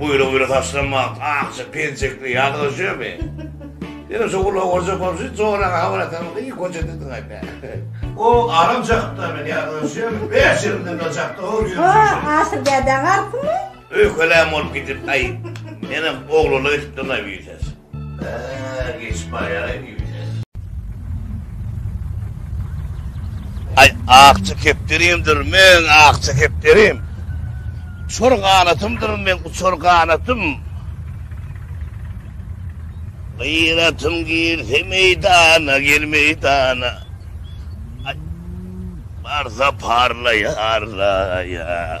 Buýra buýra saçlam wagt akja penjekli ýadyga şömi. Ýene şu gulagy gorjek bolup şu joraga habar atarmyka iyi goja diýdiň aýt. O aram çakda men ýadyga şömi bäş ýyl bilen bir çakda hor ýörşüň. Wah aşyr däde garpmy? Öýkelän bolup gidip aý. Menem oglula gitipdir naýbüýi ses. Bäh geçip barýaraým ýüzüne. Aý akja kepderimdir meň akja kepderim Uçar ganatymdyr meň uçar ganatym Gyratym girse meýdana gel meýdana Barsa parlaýar laýa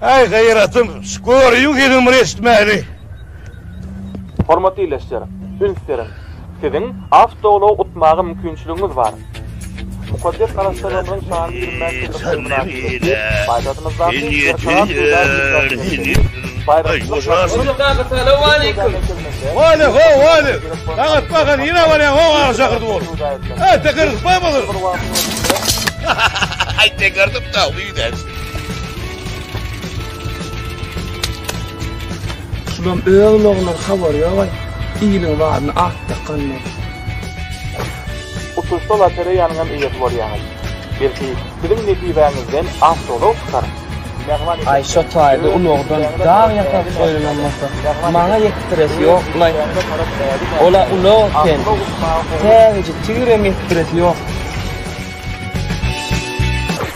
Aý gaýratym, şu görüň sesiňmir eşitmäli. Hormatly ildeşler, üns beriň! Siziň awtoulag utmaga mümkinçiligiňiz bar. Mukaddes Garassaglygymyzyň şanly ýyl mäşgelligi mynasybetli paýtagtymyzdaky Berkarar Söwda biržasy merkezi Baýrakçylyk maşgala Şulam öz logular habary ýogaý. Iliň badyny ak dakanlar. Uçuşda lotereýanyňam eýesi bolýaňyz. Belki siziň nesibäňizden awtoulag çykar. Aý şo taýda ulagdan dag ýasap goýlanam bolsa, maňa ýetdiresi ýokmulaý. Ol-a ulag eken. Täzeje tigirem ýetdiresi ýok.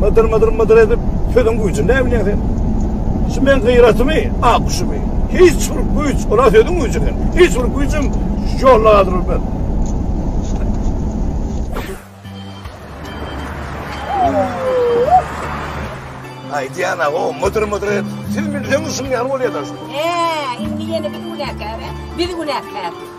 Mydyr mydyr mydyr edip sözüň güýjüni näme bilýäň sen? Şu men gyratymy, ak guşumy? Hiç bir güýç, ola sözüň güýjüni. Hiç bir güýjüm ýoluna galdyrmaz. Ay Diana o mıdır mıdır et. Siz milden ışın yan oluyor da. Eee, indi yeni bir günah kâbe. Bir günah kâbe.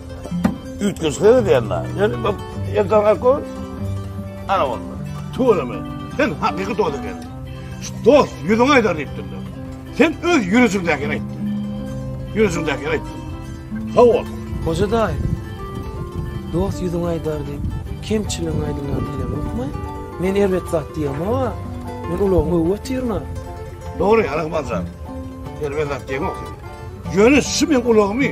Üýtgeşikler edýänler. Ýöne bu Erdogan Akko ana boldy. Tuweleme, sen hakyky dost ekeniň. Şu dost ýüzüňe aýdar diýipdim. Sen öz ýürejiňdäkini aýtdyň. Ýürejiňdäkini aýtdyň. Sag bol. Hoja daýy, dost ýüzüňe aýdar diýip, kemçiligiňi aýdyňlar diýlemokmy? Men erbet zat diýemog-a. Men ulagyňy öwüp otyryn-a. Dogry, Alakmanjan. Erbet zat diýemok sen. Ýöne şu meň ulagymy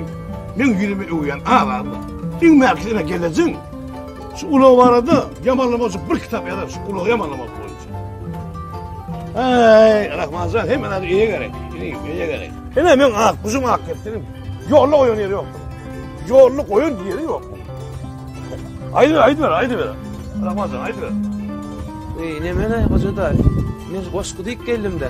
meň ýüzüme öwýän azady. Diňmäki ine gelejin. Şu ulag barada ýamanlama üçin bir kitap ýazar şu ulagy ýamanlamak boýunça. Aý, Rahmanjan hem ana eýe gerek. Ine eýe gerek. Ine meň ak guşum ak keptinim. Ýolda oýun ýeri ýok. Ýolda oýun ýeri ýok. Aýdy, aýdy ber, aýdy ber. Rahmanjan aýdy ber. Ey, ne mene hoja daýy. Men goşgy diýip geldim-de.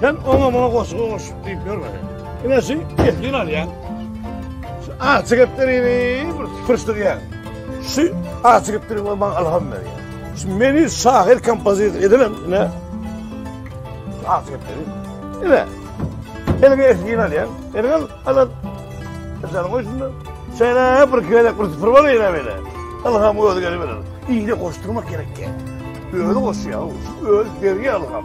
Sen oňa muňa goşugy goşup diýip ýörme. Ine şu kesgin alýan. Şu açy geplerini bir pyrşdyrýan. Şu açy gepleri we maňa alham berýär. Şu meni şahyr kompozitor edinem ine. Şu açy gepleri. Ine. Elime kesgin alýan. Elime alan. Sen goý şunda. Şeýle bir kelek bir sıfır bar ýene böyle. Alham özi gelip berer. Iýle goşdurmak gerek. Özi goşýar. Özi berýär alham.